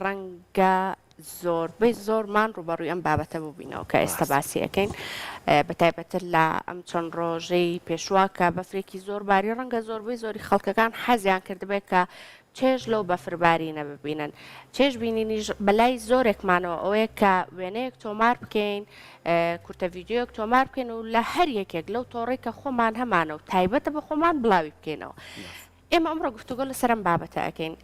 ڕەنگە زۆربەی زۆرمان ڕووبەڕووی ئەم بابەتە بووبینەوە کە ئێستا باسی ئەەکەین بە تایبەتتر لە ئەم چەند ڕۆژەی پێشوە کە بەفرێکی زۆر باری ڕەنگە زۆربەی زۆری خەڵکەکان حەزیان کردبێت کە چێژ لەو بەفربارینە ببینن چێژ بینینیش بەلای زۆرێکمانەوە ئەوەیە کە وێنەیەک تۆمار بکەین کورتە ویددیوەک تۆمار بکەین و لە هەر یەکێک لەو تۆڕێک کە خۆمان هەمانە و تایبەتە بە خۆمان بڵاوی بکەینەوە ئێمە ئەمڕۆ گفتوگۆ لەسەر ئەم بابەتە ئەکەین.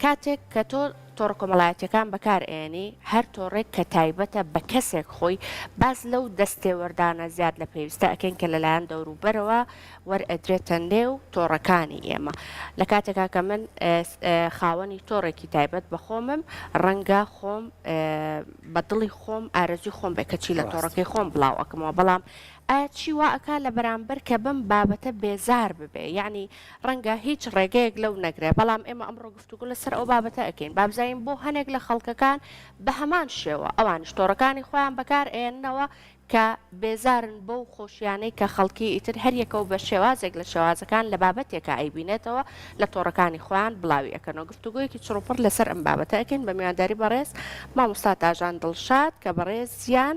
کاتێک کە تۆ تۆڕە کۆمەڵایەتیەکان بەکار ئەیەنی هەر تۆڕێک کە تایبەتە بە کەسێک خۆی باس لەو دەستێوەردانە زیاد لە پێویستە ئەکەین کە لەلایەن دەوروبەرەوە وەرئەدرێتە نێو تۆڕەکانی ئێمە لە کاتێکا کە من خاوەنی تۆڕێکی تایبەت بە خۆمم ڕەنگە خۆم بە دڵی خۆم ئارەزوی خۆم بێ کەچی لە تۆڕەکەی خۆم بڵاو ئەکەمەوە بەڵام ئایا چی وا ئەکا لە بەرامبەر کە بم بابەتە بێزار ببێ یعنی ڕەنگە هیچ ڕێگەیەک لەو نەگرێ، بەڵام ئێمە ئەمڕۆ گفتوگۆ لەسەر ئەو بابەتە ئەکەین، بابزانین بۆ هەنێک لە خەڵکەکان بەهەمان شێوە ئەوانیش تۆڕەکانی خۆیان بەکار ئەیەننەوە کە بێزارن بەو خۆشیانەی کە خەڵکی ئیتر هەریەکەو بە شێوازێک لە شێوازەکان لە بابەتێکا ئەیبینێتەوە لە تۆڕەکانی خۆیان بڵاوی ئەکەنەوە گفتوگۆیەکی چڕوپڕ لەسەر ئەم بابەتە ئەکەین بە میوانداری بەڕێز مامۆستا تاژان دڵشاد کە بەڕێزیان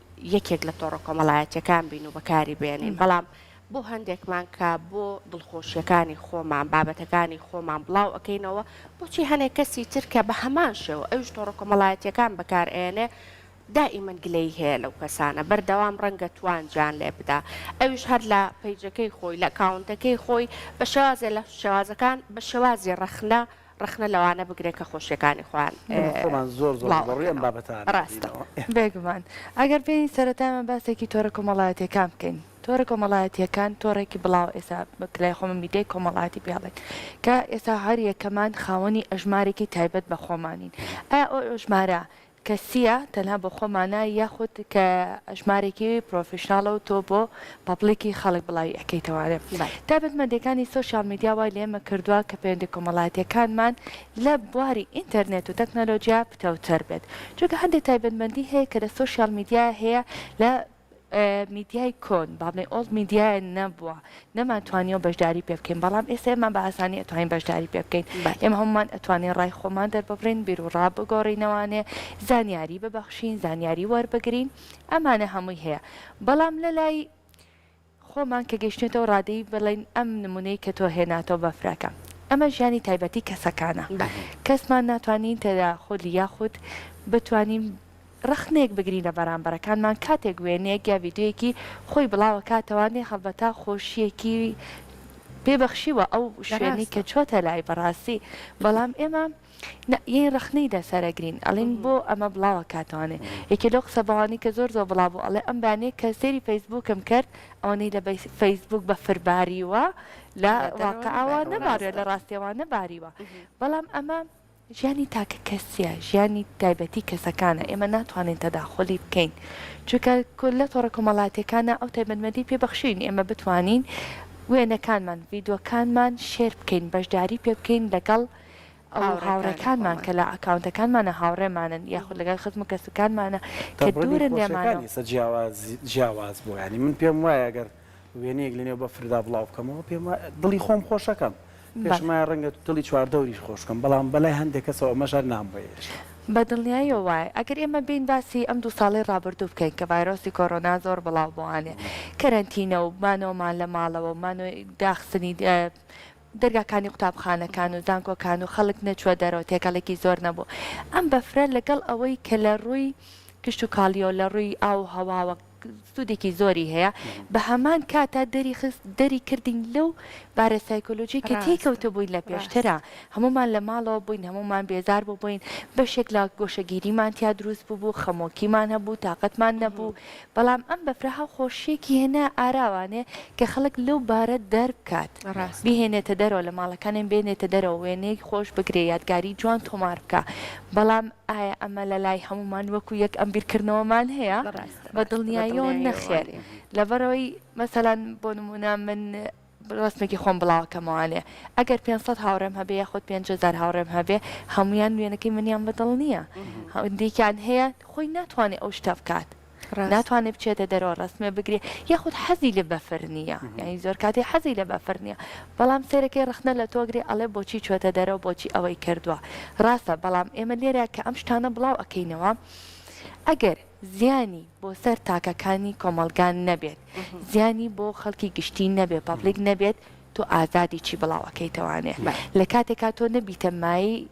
یەکێک لە تۆڕە کۆمەڵایەتیەکان بین و بەکاری بێنین بەڵام بۆ هەندێکمان کە بۆ دڵخۆشیەکانی خۆمان بابەتەکانی خۆمان بڵاو ئەەکەینەوە بۆچی هەنێک کەسی ترکە بە هەمان شێوە ئەوش تۆڕە کۆمەڵایەتیەکان بەکارئێنێ دائیمەن گلەی هەیە لەو کەسانە بەردەوام ڕەنگە توانجیان لێ بدا ئەوش هەر لە پەیجەکەی خۆی لە کاونتەکەی خۆی بە شێوازێ لە شێوازەکان بە شێوازی ڕەخنە ڕەخنە لەوانە بگرێ کە خۆشیەکانی خۆیان بڵاوئەکەنەوە. ڕاستە بێگومان ئەگەر بێین سەرەتامان باسێکی تۆرە کۆمەڵایەتیەکان بکەین تۆرە کۆمەڵایەتیەکان تۆڕێکی بڵاو ئێستا بەکلای خۆمە میدیای کۆمەڵاتی پێڵێن کە ئێستا هەر یەکەمان خاوەنی ئەژمارێکی تایبەت بە خۆمانین ئایا ئەو ئەژمارە کەسیە تەنها بۆ خۆمانە یاخود کە ژمارێکی پرۆفیشناڵە و تۆ بۆ پەبڵیکی خەڵک بڵاوی ئەکەیتەوە تایبەت مەندەکانی سۆشیاڵ میدیا وای لێمە کردوە کە پەیوەندی کۆمەڵایەتیەکانمان لە بواری ئینتەرنێت و تەکنەلۆجیا پتەوتر بێت چونکە هەندێ تایبەت مەندی هەیە کە لە سۆشیاڵ میدیا هەیە لە میدیای کۆن، بابنەی ئۆڵد میدیا، نەبووە، نەمانتوانیوە بەشداری پێ بکەین، بەڵام ئێستا ئێمە بە ئاسانی ئەتوانین بەشداری پێ بکەین. ئێمە هەموومان ئەتوانین ڕای خۆمان دەرببڕین، بیروڕا بگۆڕینەوانێ، زانیاری ببەخشین، زانیاری وەربگرین، ئەمانە هەمووی هەیە. بەڵام لەلای. خۆمان کە گەیشتوینەتەوە ڕادەی بڵێین ئەم نمونەی کە تۆ هێناتەوە بەفرەکە ئەمە ژیانی تایبەتی کەسەکانە کەسمان ناتوانین تەداخول یاخود بتوانین ڕەخنەیەک بگرین لە بەرامبەرەکانمان کاتێک وێنەیەک یا ڤیدیۆیەکی خۆی بڵاوەکاتەوە نێ هەڵبەتە خۆشیەکی پێ بەخشیوە ئەو شوێنەی کە چۆتە لای بەڕاستی بەڵام ئێمە نا یەی ڕەخنەی دە سەرە گرین ئەلین بۆ ئەمە بڵاوە کاتەوانێ یەکێ لەو قسە بەوانەی کە زۆر زۆر بڵا بوو ئەڵێ ئەم بەیانیە کە سێری فەیسبووکم کرد ئەوەنەی لە بەی فەیسبووک بە فر باریوە لە واقعەوە نەباریوە لە ڕاستیەوە نەباریوە بەڵام ئەمە ژیانی تاکە کەسیە ژیانی تایبەتی کەسەکانە ئێمە ناتوانین تەداخۆلی بکەین چونکە کولە تۆڕە کۆمەڵاتیەکانە ئەو تایبەتمەندی پێ بەخشین ئێمە بتوانین وێنەکانمان ڤیدۆکانمان شێر بکەین بەشداری پێ بکەین لەگەڵ ئەو هاوڕێکانمان کە لە ئەکاونتەکانمانە هاوڕێمانن یاخود لەگەڵ خزم و کەسوکارمانە کە دوورن لێمانەوە. تەڕەنی خۆشیەکانی جیاواز جیاواز بوو یانی من پێم وایە گەر وێنەیەک لەنێو بەفردا بڵاو بکەمەوە پێم وایە دڵی خۆم خۆشەکەم پێشم وایە ڕەنگە دڵی چواردەوریش خۆش بکەم بەڵام بەلای هەندێک کەسەوە ئەمەش هەر نامبەوێت. بە دڵنیایەوە وایە ئەگەر ئێمە بێین باسی ئەم دوو ساڵەی ڕابردوو بکەین کە ڤایرۆسی کۆرۆنا زۆر بڵاو بووانێ کەرەنتینە و مانەوەمان لە ماڵەوە و مانەوەی داخستنی دەرگاکانی قوتابخانەکان و زانکۆکان و خەڵک نەچووە دەرەوە تێکەڵێکی زۆر نەبوو ئەم بەفرە لەگەڵ ئەوەی کە لە ڕووی کشتوکاڵیەوە و لە ڕووی ئاو و هەواوە سوودێکی زۆری هەیە بە هەمان کاتا دەری خست دەری کردین لەو بارە سایکۆلۆژی کە تێی ڕاستە کەوتبووین لە ڕاستە پێشترا هەموومان لە ماڵەوە بووین هەموومان بێزار بووبووین بەشێک لە گۆشەگیریمان تیا دروست بووبوو خەمۆکیمان هەبوو تاقەتمان نەبوو بەڵام ئەم بەفرە هاو خۆشیەکی هێنا ئاراوانێ کە خەڵک لەو بارە دەربکات ڕاستە. بیهێنێتە دەرەوە لە ماڵەکانێن بێنێتە دەرەوە وێنەیەک خۆش بگرێ یادگاری جوان تۆمار بکا بەڵام ئایا ئەمە لە لای هەموومان وەکو یەک ئەم بیرکردنەوەمان هەیە؟ بە دڵنیایەوە نەخێر لەبەرئەوەی مەسەلەن بۆ نموونە من ڕەسمێکی خۆم بڵاوکەمەوانێ ئەگەر پێنج سەد هاوڕێم هەبێ یاخود پێنج هەزار هاوڕێم هەبێ هەموویان وێنەکەی منیان بەدڵ نییە هەندێکیان هەیە خۆی ناتوانێ ئەو شتە بکات ناتوانێت بچێتە دەرەوە ڕسمێ بگرێ یاخود حەزی لە بەفر نییە یعنی زۆر کاتی حەزی لە بەفر نییە بەڵام سێرەکەی ڕخنە لە تۆگرێ ئەڵێ بۆچی چۆتە دەرەوە بۆچی ئەوەی کردووە ڕاستە بەڵام ئێمە لێرە کە ئەم شتانە بڵاو ئەکەینەوە ئەگەر زیانی بۆ سەر تاکەکانی کۆمەڵگا نەبێت زیانی بۆ خەڵکی گشتی نەبێت پەبلیک نەبێت تۆ ئازادی چی بڵاو ئەکەیتەوانێ لە کاتێکا تۆ نەبیتە مایەی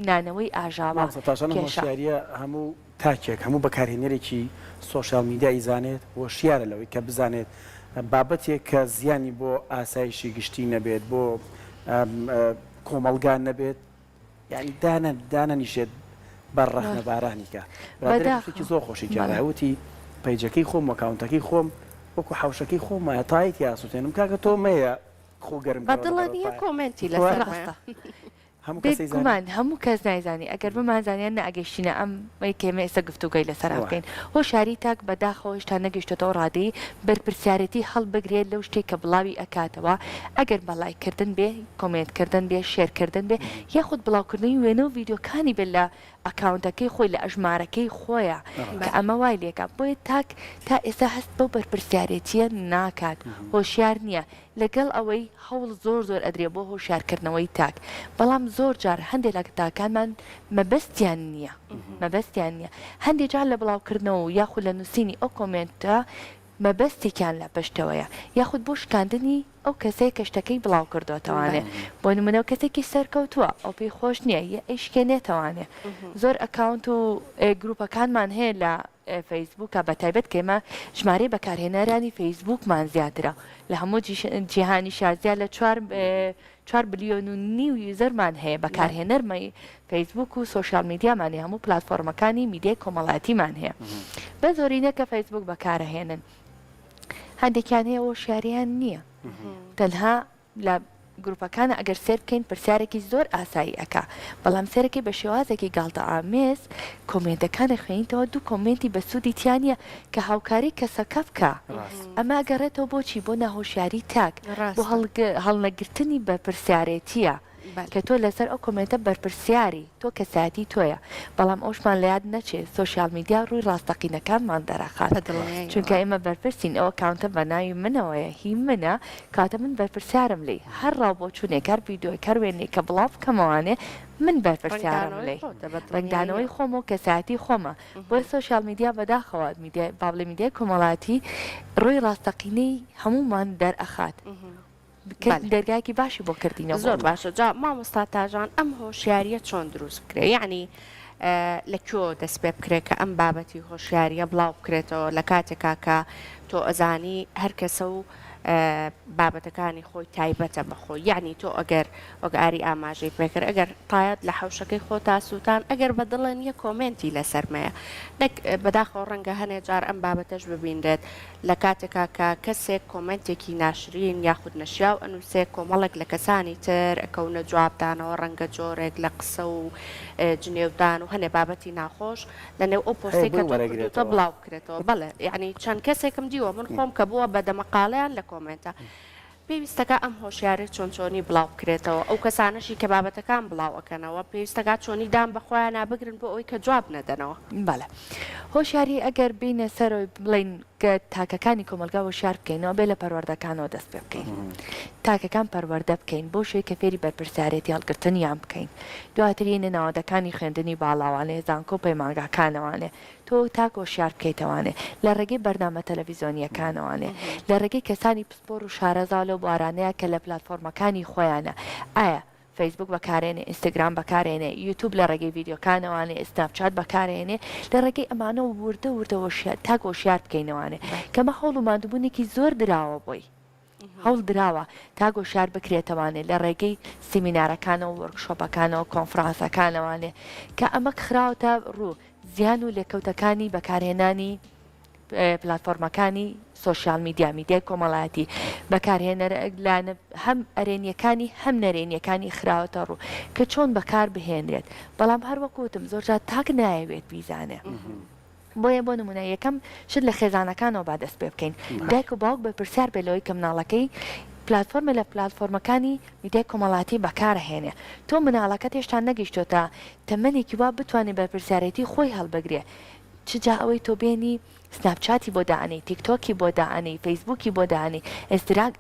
نانەوەی ئاژاوە مامۆستا تاژان ئەم کێشە هۆشیارییە هەموو تاکێک هەموو بەکارهێنەرێکی سۆشیال میدیا ئیزانێت هۆشیارە لەوەی کە بزانێت بابەتێک کە زیانی بۆ ئاسایشی گشتی نەبێت بۆ کۆمەڵگا نەبێت یانی دانە دانە نیشێت بەر ڕەخنە بارانی کە ڕادێکی زۆر خۆشی کەوتی پەیجەکەی خۆم وەکاونتەکەی خۆم وەکو حوشەکەی خۆم وایە تایت یاسووتێنم کاکە تۆ مەیە خۆگەرم بەدڵنیە کۆمنتی لە هەموومان هەموو کەس نایزانی ئەگەر بمانزانیان ناگەشتینە ئەم کێمە ئێستا گفتوگەی لەسەر بکەین هۆ شاری تاک بەداخەوەش تا نەگەشتێتەوە ڕادەی بەرپرسیارەتی هەڵبگرێت لەو شتێک کە بڵاوی ئەکاتەوە ئەگەر بەڵایکردن بێ کۆمێنت کردن بێ شێر کردن بێ یاخود بڵاو کردنی وێنە و ڤیدیۆ کانی بێ لە ئەکاونتەکەی خۆی لە ئەژمارەکەی خۆیە کە ئەمە وای لێکا بۆیە تاک تا ئێستا هەست بەو بەرپرسیارێتیە ناکات هۆشیار نیە لەگەڵ ئەوەی هەوڵ زۆر زۆر ئەدرێ بۆ هۆشیار کردنەوەی تاک بەڵام زۆر جار هەندێ لە تاکانمان مەبەستیان نیە مەبەستیان نیە هەندێ جار لە بڵاو کردنەوە و یاخود لە نوسینی ئەو کۆمێنتە مەبەستێکیان لە پشتەوەیە یاخود بۆ شکاندنی ئەو کەسەیە کە شتەکەی بڵاوکردۆتەوانێ بۆ نمونە کەسێکی سەرکەوتوە ئەو پێی خۆش نیە یە ئەیشکێنێتەوانێ زۆر ئەکاونت و گروپەکانمان هەیە لە فەیسبوکا بەتایبەت کە ئێمە ژمارەی بەکارهێنەرانی فەیسبوکمان زیاترە لە هەموو جیهانیشا زیاد لە چوار چوار بلیۆن و نیو یوزەرمان هەیە بەکارهێنەرمەی فەیسبووک و سۆشیال میدیامان هەیە، هەموو پلاتفۆرمەکانی میدیای کۆمەڵایەتیمان هەیە، بەس زۆرینە کە فەیسبووک بەکارئەهێنن هەندێکیان هەیە هۆشیاریان نییە تەنها لە گروپەکانە ئەگەر سێر بکەین پرسیارێکی زۆر ئاسایی ئەکا بەڵام سێرەکەی بە شێوازێکی گاڵتە ئامێز کۆمێنتەکانە خوێنیتەوە دوو کۆمێنتی بە سوودی تیانە کە هاوکاری کەسەکە بکە ئەمە گەڕێتەوە بۆچی بۆ ناهۆشیاری تاک بۆ هەڵنەگرتنی بەرپرسیارێتیە. کە تۆ لەسەر ئەو کۆمێنتە بەرپرسیاری تۆ کەسایەتی تۆیە بەڵام ئەوشمان لەیاد نەچێ سۆشیال میدیا ڕووی ڕاستەقینەکانمان دەرەخات چونکە ئێمە بەرپرسین ئەو ئەکاونتە بەناوی منەوەیە هی منە کەواتە من بەرپرسیارم لێی هەر ڕاو بۆچوونێک هەر ڤیدۆیەک هەر وێنەیەک کە بڵاو بکەمەوانێ من بەرپرسیارم لێی ڕەنگدانەوەی خۆم و کەسایەتی خۆمە بۆیە سۆشیال میدیا بەداخەوە میدیای بابڵێ میدیای کۆمەڵاتی ڕووی ڕاستەقینەی هەموومان دەرئەخات بکرد دەرگایەکی باشی بۆ کردینە زۆر باشە جا مامۆستا تاژان ئەم هۆشیاریە چۆن دروست بکرێ یعنی لە کۆ دەست پێ بکرێت کە ئەم بابەتی هۆشیاریە بڵاو بکرێتەوە لە کاتێکا کە تۆ ئەزانی هەر کەسە و بابەتەکانی خۆی تایبەتە بەخۆ یعنی تۆ ئەگەر وەگاری ئاماژەی پێکرد ئەگەر تایەت لە حوشەکەی خۆ تاسووتان ئەگەر بە دڵێن یە کۆمنتی لە سەرمەیە نەک بەداخەوە ڕەنگە هەنێ جار ئەم بابەتەش ببینرێت لە کاتێکا کە کەسێک کۆمێنتێکی ناشرین یاخود نەشیاو ئەنووسێ کۆمەڵێک لە کەسانی تر ئەکەونە جواب دانەوە ڕەنگە جۆرێک لە قسە و جنێو دان و هەنێ بابەتی ناخۆش لە نێو ئەو پۆستەی کە تۆ کردووتە بڵاو بکرێتەوە بەڵێ یانی چەند کەسێکم دیوە من خۆم کە بووە بە دەمەقاڵێیان لە کۆمێنتە پێویستەکا ئەم هۆشیارەی چۆن چۆنی بڵاو بکرێتەوە ئەو کەسانەشی کە بابەتەکان بڵاو ئەکەنەوە پێویستەکا چۆنی دان بە خۆیانا بگرن بۆ ئەوەی کە جواب نەدەنەوە. بەڵێ هۆشیاری ئەگەر بێینە سەرەوەی بڵێین کە تاکەکانی کۆمەڵگا هۆشیار بکەین ئەوە بێ لە پەروەردەکانەوە دەست پێ بکەین تاکەکان پەروەردە بکەین بۆ شوێ کە فێری بەرپرسیارێتی هەڵگرتنیان بکەین دواتر یەینە ناوەندەکانی خوێندنی باڵاوانێ زانکۆ پەیمانگاکانەوانێ تۆ تاک هۆشیار بکەیتەوانێ لە ڕێگەی بەرنامە تەلەفیزۆنییەکانەوانێ، لە ڕێگەی کەسانی پسپۆر و شارەزا لەو بوارانەیا کە لە پلاتفۆرمەکانی خۆیانا، ئایا فەیسبووک بەکارێنێ، ئینستاگرام بەکارێنێ، یوتوب لە ڕێگەی ڤیدیۆکانەوانێ، سناپ چات بەکارێنێ، لە ڕێگەی ئەمانە وردە وردە هۆشیا تاک هۆشیار بکەینەوانێ، کەمە هەوڵ و ماندووبوونێکی زۆر دراوە بۆی. هەوڵ دراوە تا گۆشار بکرێتەوانێ لە ڕێگەی سیمینارەکانەوە، وۆرکشۆپەکانەوە، کۆنفرانسەکانەوانێ کە ئەمە کخراوەتە ڕوو، زیان و لێکەوتەکانی بەکارهێنانی پلاتفۆرمەکانی سۆشیال میدیا، میدیای کۆمەڵایەتی، بەکارهێنەر لایەنە هەم ئەرێنیەکانی هەم نەرێنیەکانی خراوەتە ڕوو کە چۆن بەکار بهێنرێت، بەڵام هەر وەکو وتم زۆرجار تاک نایەوێت بیزانێ. بۆیە بۆ نموونە یەکەم شت لە خێزانەکانەوە با دەست پێ بکەین، دایک و باوک بەرپرسیار بێت لەوەی کە مناڵەکەی پلاتفۆرمێک لە پلاتفۆرمەکانی میدیای کۆمەڵاتی بەکار هێنێ، تۆ مناڵەکەت هێشتا نەگیشتۆتە تەمەنێکی وا بتوانێ بەرپرسیارێتی خۆی هەڵبگرێ، چ جا ئەوەی تۆ بێنی سناپ چاتی بۆ دائەنێی، تیک تۆکی بۆ دائەنێی، فەیسبووکی بۆ دائەنێی،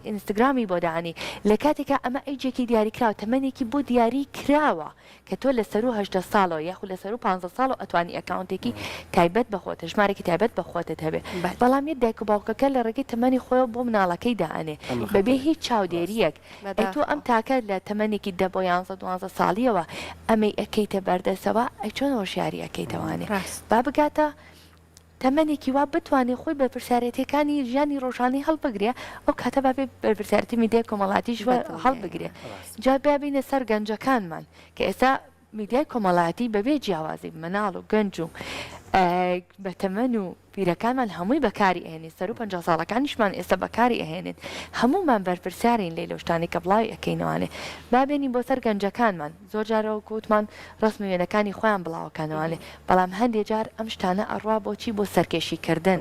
ئینستگرامی بۆ دائەنێی، لە کاتێکا ئەمە ئەیجێکی دیاریکراوە، تەمەنێکی بۆ دیاری کراوە، کە تۆ لە سەروو هەژدە ساڵەوە یاخود لە سەروو پانزە ساڵەوە ئەتوانی ئەکاونتێکی تایبەت بە خۆت ژمارەێکی تایبەت بە خۆتت هەبێ بەل. بەڵام یە دایک و باوکەکە لە ڕێگەی تەمەنی خۆیەوە بۆ مناڵەکەی دائەنێ ئەمە خەتەرە بەبێ هیچ ڕاستە. چاودێریەک ئەی تۆ ئەم بەداخەوە. تاکە لە تەمەنێکی دە بۆ یانزە دوانزە ساڵیەوە ئەمەی ئەکەیتە بەردەسەوە ئەی چۆن هۆشیاری ئەکەیتەوانێ ڕاست. با بگاتە تەمەنێکی وا بتوانێ خۆی بەرپرسیارێتیەکانی ژیانی ڕۆژانەی هەڵبگرێ ئەو کاتە با بێ بەرپرسیارێتی میدیای کۆمەڵاتیش هەڵبگرێ جا با بینە سەر گەنجەکانمان کە ئێستا میدیای کۆمەڵاتی بەبێ جیاوازی مناڵ و گەنج و بەتەمەن و پیرەکانمان هەمووی بەکاری ئەهێنین سەر و پ ساڵەکانیشمان ئێستا بەکاری ئەهێنێت هەمومان بەرپرسیارین لەی لەشتانی کە بڵاوی ئەەکەینەوانێ بابێنین بۆ سەر گەنجەکانمان زۆر جار وەک وتمان ڕەسم و وێنەکانی خۆیان بڵاوەکەنەوە بەڵام هەندێ جار ئەم شتانە ئەڕوا بۆچی بۆ سەرکێشی کردن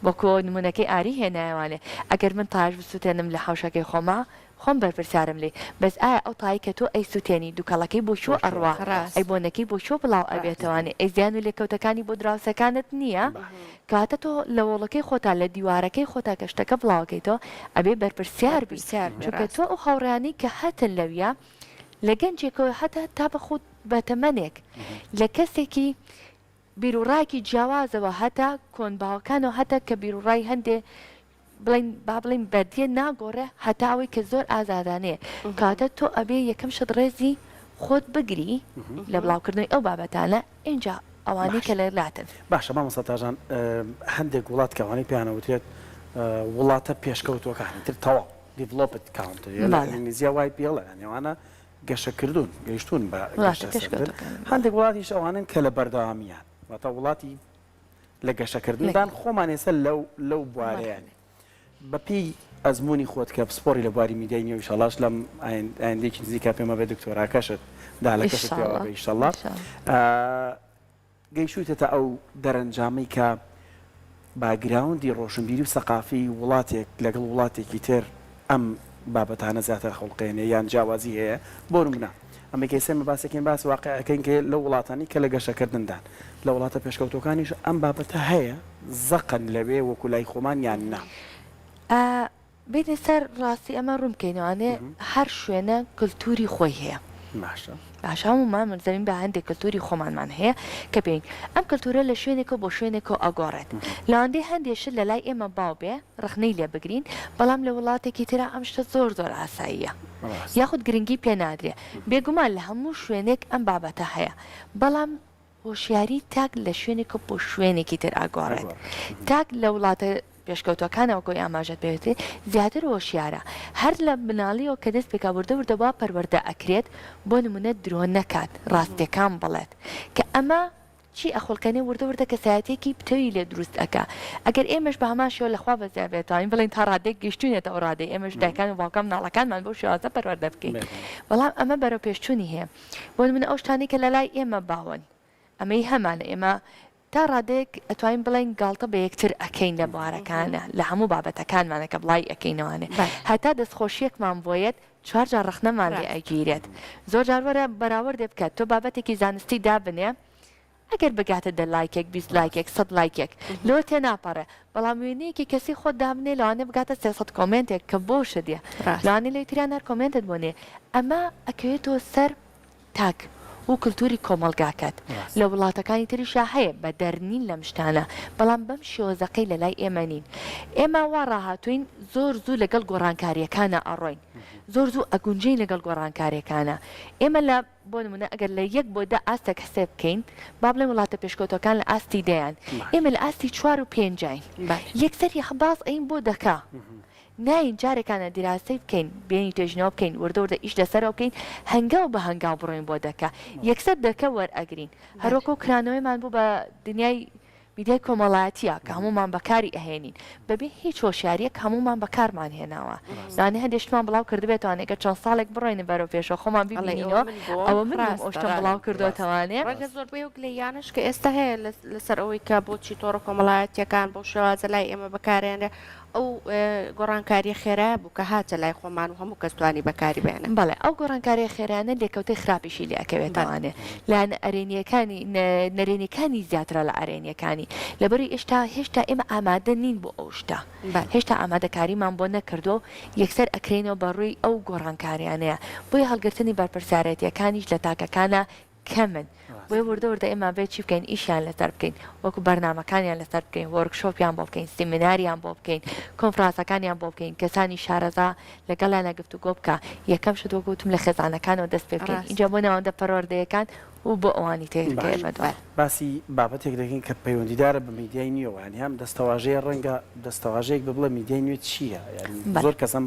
وەکۆ نمونەکەی ئاری هێنایەوە ئەگەر من تایش بسوتێنم لە حەوشەکەی خۆما خۆم بەرپرسارم لێی بەس ئایا ئەو تایەی کە تۆ ئەی سوتێنی دوکەڵەکەی بۆ کوێ ئەڕوا ئەی بۆنەکەی بۆ کوێ بڵاو ئەبێتەوە ئەی زیان و لێکەوتەکانی بۆ دراوسێکانت نییە کەواتە تۆ لە وۆڵەکەی خۆتا لە دیوارەکەی خۆتا کە شتەکە بڵاوەکەیتەوە ئەبێ بەرپرسیار بیت چونکە تۆ ئەو هاوڕێیانەی کە هەتن لەویا لە گەنجێکەوە هەتا تا بە خود بە تەمەنێک لە کەسێکی بیروڕاکی جیاوازەوە هەتا کۆن باوەکانەوە هەتا کە بیروڕای هەندێ بڵین با بڵین بەردیە ناگۆڕێ هەتا ئەوەی کە زۆر ئازادانەیە کاتە تۆ ئەبێ یەکەم شت ڕێزی خۆت بگری لە بڵاوکردنەوەی ئەو بابەتانە ئینجا ئەوانەی کە لەلاتن باشە مامۆستا تاژان هەندێک وڵات کەوانەی پێیانەوترێت وڵاتە پێشکەوتووەکانی تر تەواو Developed Country، یە لە ئینگلیزییە YPL، یانی ئەوانە گەشەکردوون، گەیشتوون بە گەشەسەندن. هەندێک وڵاتیش ئەوانەن کە لە بەردەوامییان، واتە وڵاتی لە گەشەکردندان، خۆمان ئێستا لەو بوارەیە نین. بەپێی ئەزموونی خۆت کە پسپۆڕی لە بواری میدیای نوێ و ئیشەڵڵاش لەم ئایندەیەکی نزیکا پێمەبێ دکتۆراکەشت دالەکەشت پێوابێ ئیشەڵڵا. گەیشتوویتەتە ئەو دەرەنجامەی کە باکگراوندی ڕۆشنبیری و سەقافی وڵاتێک لەگەڵ وڵاتێکی تر ئەم بابەتانە زیاتر خولقێنێ یان جیاوازی هەیە بۆ نمونە ئەمەی کە ئێمە باسەکەین باس واقعەکەین کە لەو وڵاتانی کە لە گەشەکردندان لە وڵاتە پێشکەوتوەکانیش ئەم بابەتە هەیە زەقن لەوێ وەکو لای خۆمان یان نا؟ بێینە سەر ڕاستی ئەمە ڕوون بکەینەوە ئەمێ هەر شوێنە کلتوری خۆی هەیە باشە باشە هەموومان ملزەمین بە هەندێک کلتوری خۆمانمان هەیە کە بێین ئەم کلتورە لە شوێنێکەوە بۆ شوێنێکەوە ئەگۆڕێت لەوەندەی هەندێک شت لە لای ئێمە باو بێ ڕخنەی لێ بگرین بەڵام لە وڵاتێکی ترا ئەم شتە زۆر زۆر ئاساییە ڕاست یاخود گرنگی پێ نادرێ بێگومان لە هەموو شوێنێک ئەم بابەتە هەیە بەڵام هۆشیاری تاک لە شوێنێکەوە بۆ شوێنێکی تر ئەگۆڕێت، تاک لە وڵاتە پێشکەوتووەکانە وەکو ئاماژەت پێ کرد زیاتر هۆشیارە، هەر لە مناڵیەوە کە دەست پێکا وردە وردە وا پەروەردە ئەکرێت بۆ نمونە درۆ نەکات ڕاستیەکان بڵێت کە ئەمە چی ئەخولقێنێ وردە وردە کەسایەتیەکی پتەوی لێ دروست ئەکا، ئەگەر ئێمەش بە هەمان شێوە لە خوا بەزیا بێت توانین بڵێین تا ڕادەیەک گەیشتوینەتە ئەو ڕادەی ئێمەش دایکان و باوکان مناڵەکانمان بەو شێوازە پەروەردە بکەین بەڵام ئەمە بەرەو پێشچوونی هەیە. بۆ نمونە ئەو شتانەی کە لە لای ئێمە باون ئەمەی هەمانە ئێمە تا ڕادەیەک ئەتوانین بڵێین گاڵتە بە یەکتر ئەکەین لە بوارەکانە لە هەموو بابەتەکانمانە کە بڵاوی ئەکەینەوانێ هەتا دەستخۆشیەکمان بۆ یەت چوار جار ڕەخنەمان لێ ئەگیرێت زۆر جار وەرە بەراوردێ بکە تۆ بابەتێکی زانستی دابنێ ئەگەر بگاتە دە لایکێک بیست لایکێک سەد لایکێک لۆ تێناپەڕێ بەڵام وێنەیەکی کەسی خۆت دابنێ لەوانەیە بگاتە سێ سەد کۆمێنتێک کە بۆ شت یە لەوانەیە لەوی تریان هەر کۆمێنتت بۆ نیە ئەمە ئەکەوێتەوە سەر تاک و کلتوری کۆمەڵگاکەت لە وڵاتەکانی تریشا هەیە بە دەر نین لەم شتانە بەڵام بەم شێوەزەقەی لە لای ئێمە نین ئێمە وا ڕاهاتوین زۆر زوو لەگەڵ گۆڕانکاریەکانە ئەڕۆین زۆر زوو ئەگونجێین لەگەڵ گۆڕانکارێکانە ئێمە لە بۆ نموونە ئەگەر لە یەک بۆ دە ئاستێک حسێب بکەین، با بڵێین وڵاتە پێشکەوتووەکان لە ئاستی دەیان، ئێمە لە ئاستی چوار و پێنجاین. یەکسەر باز ئەیین بۆ دەکە. نایین جارێکانە دیراسەی بکەین، بێین توێژینەوە بکەین، وردە وردە ئیش لەسەرەوە بکەین، هەنگاو بە هەنگاو بڕۆین بۆ دەکە. یەکسەر دەکە وەرئەگرین. هەر وەکوو کرانەوەیمان بوو بە دنیای میدیای کۆمەڵایەتیە کە هەموومان بەکاری ئەهێنین بەبێ هیچ هۆشیاریەک هەموومان بەکارمان هێناوە لەوانەیە هەندێ شتمان بڵاو کردبێتەوانەی گەر چەند ساڵێک بڕۆینە بەرەو پێشەوە خۆمان ببینینەوە ئەوە من نیم ئەوشتەم بڵاو کردۆتەوانێ. ڕەنگە زۆربەی ئەو گلەییانەش کە ئێستا هەیە لەسەر ئەوەی کە بۆچی تۆڕە کۆمەڵایەتیەکان بەو شێوازە لای ئێمە بەکارێنرێ ئەو گۆڕانکاریە خێرایە بوو کە هاتە لای خۆمان و هەموو کەس توانی بەکاری بێنێ. بەڵێ ئەو گۆڕانکاریە خێرایانە لێکەوتەی خراپیشی لێ ئەکەوێت ئەوانێ لایەنە ئەرێنیەکانی نەرێنیەکانی زیاترە لە ئەرێنیەکانی لەبەرو ئێشتا هێشتا ئێمە ئامادە نین بۆ ئەو شتە هێشتا ئامادەکاریمان بۆ نەکردوە و یەکسەر ئەکرێینەوە بەڕووی ئەو گۆڕانکاریانەیە بۆیە هەڵگرتنی بەرپرسیارێتیەکانیش لە تاکەکانە کەمن بۆیە وردە وردە ئێمە ئەبێت چی بکەین ئیشیان لەسەر بکەین وەکو بەرنامەکانیان لەسەر بکەین وۆرک شۆپیان بۆ بکەین سیمیناریان بۆ بکەین کۆنفراسەکانیان بۆ بکەین کەسانی شارەزا لەگەڵیان لە گفتوگۆ بکە یەکەم شت وەکو وتم لە خێزانەکانەوە دەست پێ بکەین ئینجا بۆ ناوەندە پەروەردەیەکان و بۆ ئەوانی تر کە ئێمە دوای باسی بابەتێک دەکەین کە پەیوەندیدارە بە میدیای نوێوە یانی ئەم دەستەواژەیە ڕەنگە دەستەواژەیەک بێ بڵێ میدیای نوێ چییە یانی زۆر کەس ئەم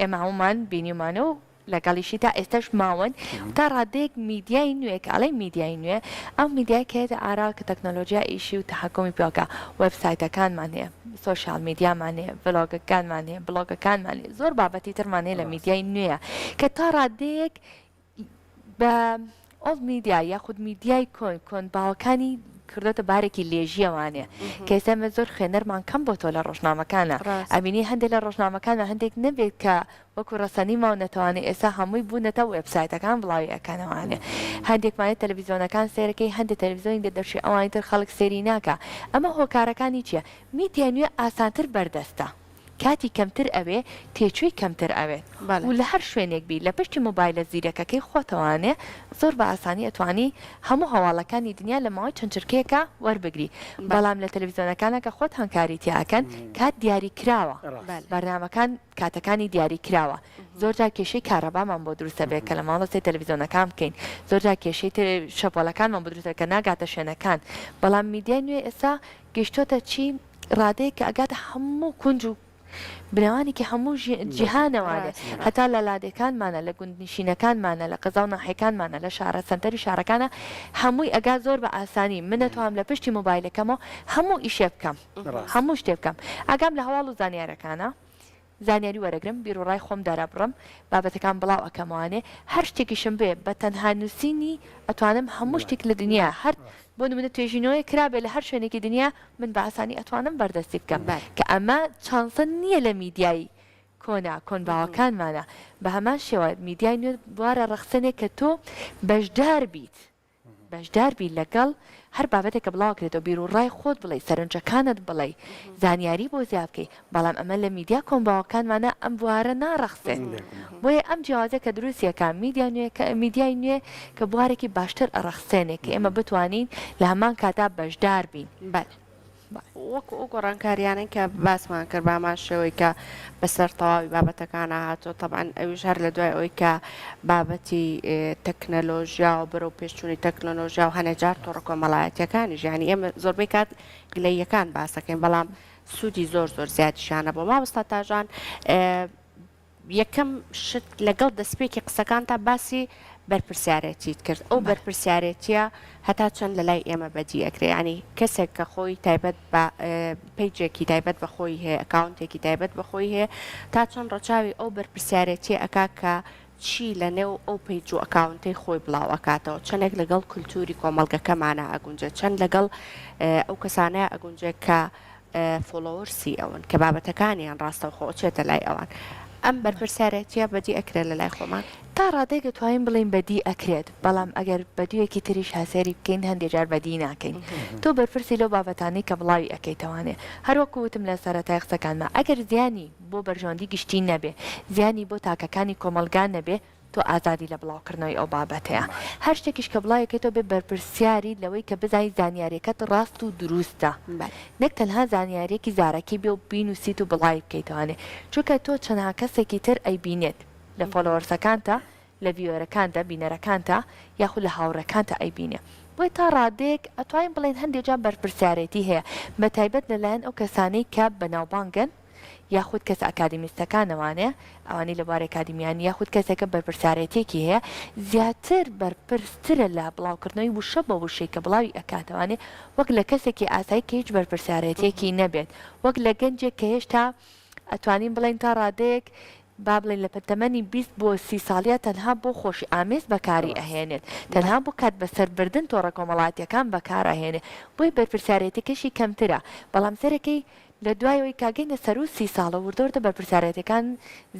ئێمە هەموومان بینیومانە و لەگەڵیشی تا ئێستاش ماون تا ڕادەیەک میدیای نوێ کە ئەڵێ میدیای نوێ ئەو میدیای کەێتە ئارا کە تەکنۆلۆژیا ئیشی و تحکمی پێکە وبسایتەکانمان هەیە سوۆشال میدیامان هەیە ڤلۆگەکانمان هەیە بڵۆگەکانمان زۆر بابەتی ترمان هەیە لە میدیای نوێە کە تا ڕادەیەک بە ئۆڵد میدیا یاخود میدیای کۆن کۆن باوەکانی کردۆتە بارێکی لێژیە وانێ کەسەمە زۆر خوێنەرمان کەم بۆ تۆ لە ڕۆژنامەکانە ئەبینی هەندێک لە ڕۆژنامەکانە هەندێک نەبێت کە وەکو ڕسەنی ماو نەتەوانێت ئێستا هەمووی بوونەتە وبسایتەکان بڵاوی ئەکەنەوانێ هەندێکمانێت تەلەڤزیۆنەکان سێرەکەی هەندێک تەلەڤزیۆنی دە دەرچی ئەوانی تر خەڵک سێری ناکە ئەمە هۆکارەکانی چییە میدیای نوێ ئاسانتر بەردەستە. کاتی کەمتر ئەوێ تێچووی کەمتر ئەوێ و لە هەر شوێنێک بی لە پشتی مۆبایلە زیرەکەکەی خۆتەوانێ زۆر بە ئاسانی ئەتوانی هەموو هەواڵەکانی دنیا لە ماوەی چەند چرکەیەکا وەربگری بەڵام لە تەلەفیزیۆنەکانا کە خۆتان کاری تیا ئەکەن کات دیاری کراوە بەرنامەکان کاتەکانی دیاری کراوە زۆر جار کێشەی کارەبامان بۆ دروست ئەبێ کە لە ماڵە سەی تەلەفیزیۆنەکان بکەین زۆر جار کێشەی تر شەپۆلەکانمان بۆ دروست کە ناگاتە شوێنەکان بەڵام میدیای نوێ ئێستا گەیشتۆتە چی ئیرادەیەک کە ئەگاتە هەموو کونج و بنەوانێکی هەموو جیهانەوە لێ هەتا لە لادێکانمانە لە گوندنیشینەکانمانە لە قەزا و ناحێکانمانە لە شارە سەنتەری شارەکانە هەمووی ئەگات زۆر بە ئاسانی من نەتوام لە پشتی مۆبایلەکەمەوە هەموو ئیشێ بکەم هەموو شتێ بکەم ئاگام لە هەواڵ و زانیارەکانە زانیاری وەرەگرم بیروڕای خۆم دەرەبڕم بابەتەکان بڵاو ئەکەمەوانێ هەر شتێکیشم بێ بە تەنها نوسینی ئەتوانم هەموو شتێک لە دنیا هەر بۆ نمونە توێژینەوەیەک کرابێ لە هەر شوێنێکی دنیا من بە ئاسانی ئەتوانم بەردەستی بکەم کە ئەمە چانسە نیە لە میدیای کۆنا کۆن باوەکانمانا بە هەمان شێوە میدیای نوێ بوارە ڕەخسێنێ کە تۆ بەشدار بیت بەشدار بی لەگەڵ هەر بابەتێک کە بڵاو ئەکرێتەوە بیرو ڕای خۆت بڵێی سەرنجەکانت بڵێی زانیاری بۆ زیا بکەی بەڵام ئەمە لە میدیا کۆمباوەکانمانا ئەم بوارە ناڕەخسێ بۆیە ئەم جیاوازە کە دروستیە کا میدیا نوێ کە میدیای نوێ کە بوارێکی باشتر ئەڕەخسێنێ کە ئێمە بتوانین لە هەمان کاتا بەشدار بین بەل. وەکو ئەو گۆڕانکاریانەی کە باسمان کرد بە هەمان شێوەی کە بەسەر تەواوی بابەتەکانە هاتووە تەبعەن ئەویش هەر لە دوای ئەوەی کە بابەتی تەکنەلۆژیا و بەرەو پێشچوونی تەکنەلۆژیا و هەنێ جار تۆڕە کۆمەڵایەتیەکانی ژیانی ئێمە زۆربەی کات گلەیەکان باسەکەین بەڵام سوودی زۆر زۆر زیادیشانە بۆ مامۆستا تاژان یەکەم شت لەگەڵ دەستپێکی قسەکانتا باسی بەرپرسیارێتیت کرد ئەو بەرپرسیارێتیە هەتا چەند لە لای ئێمە بەدی ئەکرێ ینی کەسێک کە خۆی تایبەت بە پیجێکی تایبەت بە خۆی هەیە ئەکاونتێکی تایبەت بە خۆی هەیە تا چەند ڕەچاوی ئەو بەرپرسیارێتی ئەکا کە چی لە نێو ئەو پیج و ئەکاونتەی خۆی بڵاو ئەکاتەوە چەندێک لەگەڵ کولتوری کۆمەلگەکەمانە ئەگونجێ چەند لەگەڵ ئەو کەسانەیە ئەگونجێ کە فۆڵۆوەرسی ئەون کە بابەتەکانیان ڕاستەوخۆ چێتە لای ئەوان ئەم بەرپرسیارێتیە بەدی ئەکرێت لە لای خۆمان؟ تا ڕادەیەک دەتوانین بڵێین بەدی ئەکرێت بەڵام ئەگەر بەدوویەکی تریش هەسێری بکەین هەندێ جار بەدی ناکەین تۆ بەرپرسی لەو بابەتانەی کە بڵاوی ئەکەیتەوانێ هەر وەکو وتم لە سەرەتای قسەکانما ئەگەر زیانی بۆ بەرژەوەندی گشتی نەبێ زیانی بۆ تاکەکانی کۆمەڵگا نەبێ تۆ ئازادی لە بڵاوکردنەوەی ئەو بابەتەیە. هەر شتێکیش کە بڵاویکەیتەوە بێ بەرپرسیاریت لەوەی کە بزانیت زانیاریەکەت ڕاست و دروستە. نەک تەنها زانیاریەکی زارەکی بێ و بینوسیت و بڵاوی بکەیتەوانێ. چونکە تۆ چەنها کەسێکی تر ئەیبینێت. لە فۆلۆوەرسەکانتا، لە ڤیوەرەکانتا، بینەرەکانتا، یاخود لە هاوڕێکانتا ئەیبینێ. بۆیە تا ڕادەیەک ئەتوانین بڵێین هەندێ جار بەرپرسیارێتی هەیە. بە تایبەت لە لایەن ئەو کەسانەی کە بەناوبانگن. یاخود کەسە ئەکادیمیستەکانەوانێ، ئەوانەی لە بواری ئەکادیمیان، یاخود کەسێکە بەرپرسارێتیەکی هەیە، زیاتر بەرپرسترە لە بڵاوکردنەوەی وشە بە وشەی کە بڵاوی ئەکاتەوانێ، وەک لە کەسێکی ئاسایی کە هیچ بەرپرسارێتیەکی نەبێت، وەک لە گەنجێک کە هێشتا ئەتوانین بڵێین تا ڕادەیەک با بڵێین لە تەمەنی بیست بۆ سی ساڵیا تەنها بۆ خۆشی ئامێز بەکاری ئەهێنێت، تەنها بۆ کات بەسەر بردن تۆڕە کۆمەڵاتیەکان بەکار ئەهێنێ، بۆی بەرپرسارێتیەکەشی کەمترە، بەڵام سەرەکەی لە دوای ئەوەی کە گەینە سەروو سی ساڵە وردە وردە بەرپرسیارێتیەکان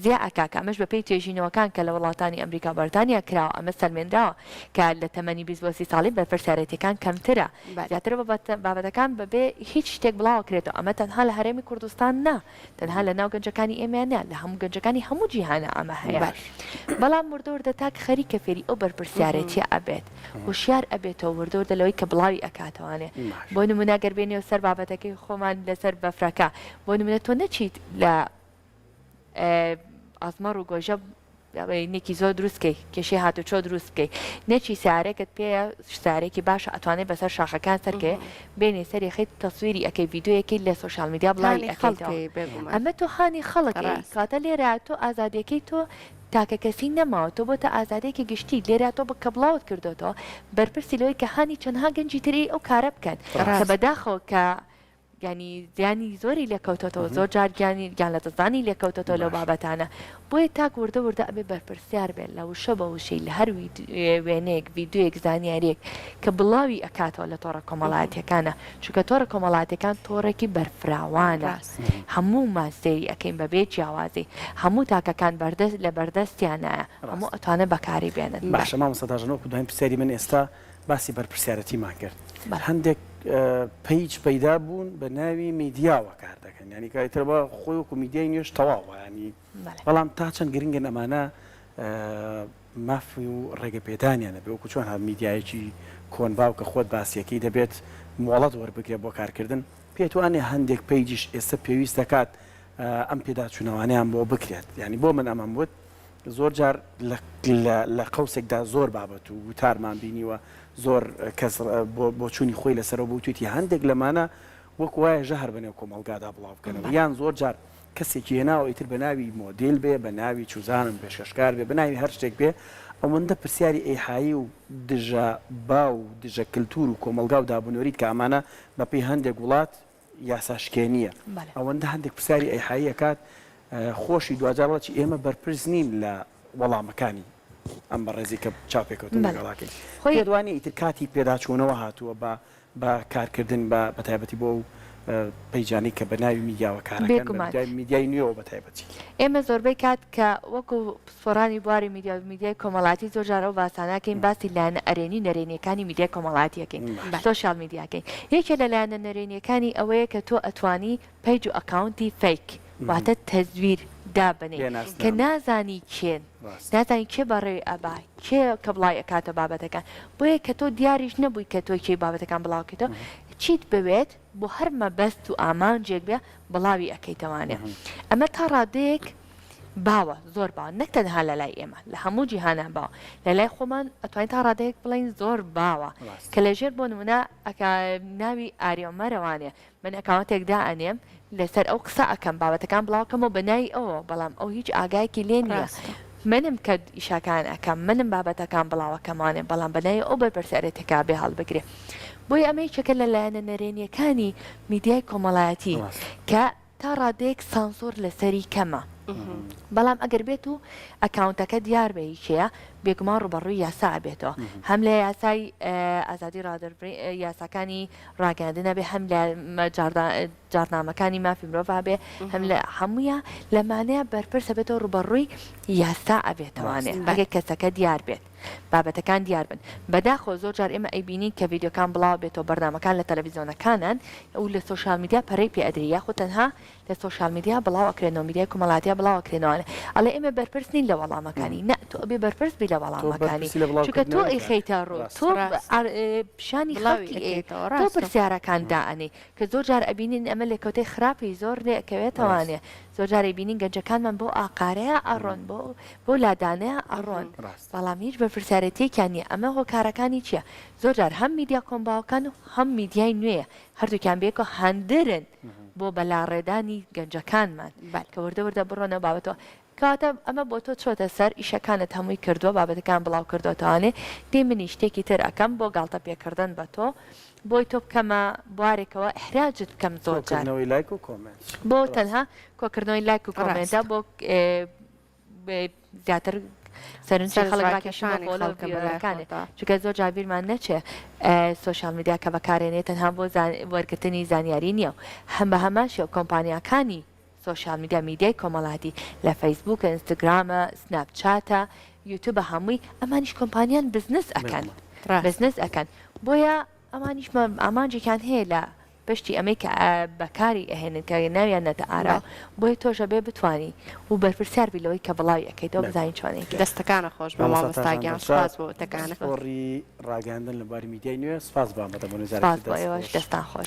زیا ئەکاکە ئەمەش بە پێی توێژینەوەکان کە لە وڵاتانی ئەمریکاو بەرتانیا کراوە ئەمە سەلمێنراوە کە لە تەمەنی بیست بۆ سی ساڵی بەرپرسیارێتیەکان کەمترە زیاترە بابەتە بابەتەکان بە بێ هیچ شتێک بڵاوەکرێتەوە ئەمە تەنها لە هەرێمی کوردستان نا تەنها لە ناو گەنجەکانی ئێمەیان نا لە هەموو گەنجەکانی هەموو جیهانا ئەمە هەیە بەڵام وردە وردە تاک خەریکە فێری ئەو بەرپرسیارێتیە ئەبێت. هۆشیار ئەبێتەوە وردە وردە لەوەی کە بڵاوی ئەکاتەوانێ بۆ نمونە گەر بێنیەوە سەر بابەتەکەی خۆمان لەسەر بەفرەکە بۆ نمونە تۆ نەچیت لە ئازمەڕ و گۆژە نێکی زۆر دروستکەی کێشەی هاتو چۆ دروست بکەیت نەچی سارێکت پێ سارێکی باشە ئەتوانێت بەسەر شاخەکان سەرکێ بینێ سەری خیت تەسویری ئەەکەی یددیوەکەی لە سوۆشال میدیا بڵی ئەەکەی ئەمە تۆ هاانی خەڵک کاتە لێرە تۆ ئازادیەکەی تۆ تاکە کەسی نەماوە تۆ بۆتە ئازادیەکی گشتی لێرا تۆ کە بڵاوت کردۆتەوە بەرپرسی لەوەی کە هانی چەنها گەنجی تر ی ئەو کارە بکەن کە بەداخەوە کە ینی زیانی زۆری لێکەوتۆتەوە زۆر جار گیانی گیان لە دەستدانی لێکەوتۆتەوە لەو بابەتانە بۆیە تاک وردە وردە ئەبێ بەرپرسیار بێت لە وشە بە وشەی لە هەر وێنەیەک ڤیددیویەک زانیاریەک کە بڵاوی ئەکاتەوە لە تۆڕە کۆمەڵاتیەکانە چونکە تۆڕە کۆمەڵاتیەکان تۆڕێکی بەرفراوانە. هەموومان سەیری ئەکەین بەبێ جیاوازی هەموو تاکەکان بەردەست لە بەردەستیانایە هەموو ئەتوانن بەکاری بێنن. باشە مامۆستا تاژەن وەکو دوایین پرسیاری من ئێستا باسی بەرپرسیارەتیمان کرد هەندێک پەیج پەیدا بوون بە ناوی میدیاوە کار دەکەن یانی کە ئیتر وا خۆی وەکو میدیای نوێش تەواوە یانی بەڵام تا چەند گرنگن ئەمانە ماف و ڕێگەپێدانیان هەبێت، وەکو چۆن هەر میدیایەکی کۆن باوکە خۆت باسیەکەی دەبێت مۆڵەت وەربگرێت بۆ کارکردن، پێتوانێت هەندێک پەیجیش ئێستا پێویست دەکات ئەم پێداچوونەوانەیان بۆ بکرێت، یانی بۆ من ئەمەم وت زۆر جار لە قەوسێکدا زۆر بابەت و وتارمان بینیوە زۆر کەس بۆچوونی خۆی لەسەرەوە بوتویتی هەندێک لەمانە وەک وایە ژەهر بەنێو کۆمەڵگادا بڵاوبکەنەوە یان زۆر جار کەسێکی هێناوە ئیتر بە ناوی مۆدیل بێ بە ناوی چوزانم پێشکەشکار بێ بە ناوی هەر شتێک بێ ئەوەندە پرسیاری ئیحایی و دژە باو و دژە کلتور و کۆمەڵگا و دابونەریت کە ئەمانە بە پێی هەندێک وڵات یاسا شکێنیە ئەوەندە هەندێک پرسیاری ئیحایی ئەکات خۆشی دواجار وەڵا چی ئێمە بەرپرس نین لە وەڵامەکانی ئەم بەڕێزی کە چاوپێکەوتن لەگەڵاکەین پێت وانیە ئیتر کاتی پێداچوونەوە هاتووە بە بە کارکردن بە بە تایبەتی بۆ ئەو پەیجانەی کە بە ناوی میدیاوە کاراکەن بە میدیای میدیای نوێوە بە تایبەتی. ئێمە زۆربەی کات کە وەکو پسپۆرانی بواری میدیا و میدیای کۆمەڵاتی زۆر جار ئەو باسانە ئەکەین باسی لایەنە ئەرێنی نەرێنیەکانی میدیای کۆمەڵاتی ئەکەین سۆشیال میدیاکەین یەکێ لە لایەنە نەرێنیەکانی ئەوەیە کە تۆ ئەتوانی پەیج و ئەکاونتی فەیک واتە تەزویر دابنێ کە نازانی کێن نازانی کێ بەڕێوی ئەبا کێ کە بڵاوی ئەکاتە بابەتەکان بۆیە کە تۆ دیاریش نەبووی کە تۆ کێی بابەتەکان بڵاوکەیتەوە چیت بەوێت بۆ هەر مەبەست و ئامانجێک بێ بڵاوی ئەکەیتەوانێ ئەمە تا ڕادەیەک باوە زۆر باوە نەک تەنها لە لای ئێمە لە هەموو جیهانە باوە لە لای خۆمان ئەتوانین تا ڕادەیەک بڵین زۆر باوە کە لەژێر بۆ نمونە ئەکا ناوی ئاریۆمەرەوانێ من ئەکاونتێک دائەنێم لەسەر ئەو قسە ئەکەم بابەتەکان بڵاو کەمەوە بە ناوی ئەوەوە بەڵام ئەو هیچ ئاگایەکی لێ نیە ڕاستە. منم کە ئیشاکان ئەکەم منم بابەتەکان بڵاو ئەکەمانێ بەڵام بە ناوی ئەو بەرپرسە ئەرێ تکا بێ هەڵبگرێ بۆیە ئەمە یەکێکە لە لایەنە نەرێنیەکانی میدیای کۆمەڵایەتی ڕاستە. کە تا ڕادەیەک سانسۆر لەسەری کەمە بەڵام ئەگەر بێت و ئەکاونتەکە دیار بە هی کێیە بێگومان ڕوبەڕوی یاسا ئەبێتەوە هەم لە یاسای ئازادی ڕادەربڕین یاساکانی ڕاگەیاندن هەبێ هەم لە جاڕنامەکانی مافی مرۆڤ هەبێ هەم لە هەموویە لەمانەیە بەرپرسە بێتەوە ڕوبەڕووی یاستا ئەبێتەوانێ بەێ کەسەکە دیار بێت بابەتەکان دیار بن بەداخۆ زۆر جار ئێمە ئەیبینین کە یددیوکان بڵاو بێتەوە بەرنمەکان لە تەلەڤیزیۆنەکانان ئەو لە سوۆشال میدیا پەرەی پێ ئەدرری یاخود تەنها لە سۆشیال میدیا بڵاو ئەکرێنەوە میدیای کۆمەڵاتیا بڵاو ئەکرێنەوە ئەڵێ ئێمە بەرپرس نین لە وەڵامەکانی نا تۆ ئەبێ بەرپرس بی لە وەڵامەکانی چونکە تۆ ئەیخەیتە ڕوو تۆ پیشانی خەڵکی ئەیەیتەوە تۆ پرسیارەکان دائەنێی کە زۆر جار ئەبینین ئەمە لێکەوتەی خراپی زۆر لێ ئەکەوێتەوانێ زۆر جار ئەیبینین گەنجەکانمان بۆ ئاقارەیە ئەڕۆن بۆ بۆ لادانەیە ئەڕۆن بەڵام هیچ بەرپرسیارێتیەکیان نییە ئەمە هۆکارەکانی چییە زۆر جار هەم میدیا کۆم باوەکان و هەم میدیای نوێیە هەردووکیان بەیەکەوە هاندەرن بۆ بەلاڕێدانی گەنجەکانمان کە وردە وردە بڕۆنەوە بابەتەوە. کەواتە ئەمە بۆ تۆ چۆتە سەر، ئیشەکانت هەمووی کردووە، بابەتەکان بڵاو کردۆتەوانێ، دەی منیش شتێکی تر ئەکەم بۆ گاڵتە پێکردن بە تۆ، بۆی تۆ بکەمە بوارێکەوە، ئیحراجت بکەم زۆرجار. کۆکردنەوەی لایک و کۆمێنت. بۆ تەنها کۆکردنەوەی لایک و کۆمێنتە بۆ زیاتر سەرنجی خەڵک راکێشان بۆ لەو ڤیدیۆیەکانێ چونکە زۆر جار بیرمان نەچێ سۆشیال میدیا کە بەکارێنێ تەنها بۆ وەرگرتنی زانیاری نییە و هەم بە هەمان شێوە کۆمپانیاکانی سۆشیال میدیا میدیای کۆمەڵاتی لە فەیسبووکە ئینستاگرامە سناپ چاتە یوتیوبە هەمووی ئەمانیش کۆمپانیان بزنس ئەکەن بزنس ئەکەن بۆیە ئەوانیش ئامانجێکیان هەیە لە پشتی ئەمەی کە بەکاری ئەهێنن کە ناویان نەتە ئارا بۆیە تۆش ئەبێ بتوانی و بەرپرسیار بی لەوەی کە بڵاوی ئەکەیتەوە بزانین چۆنێک کرد. دەستەکانت خۆش بێ مامۆستا گیان سوپاس بۆ وتەکانت. سپاس بۆ ئێوەش دەستتان خۆش.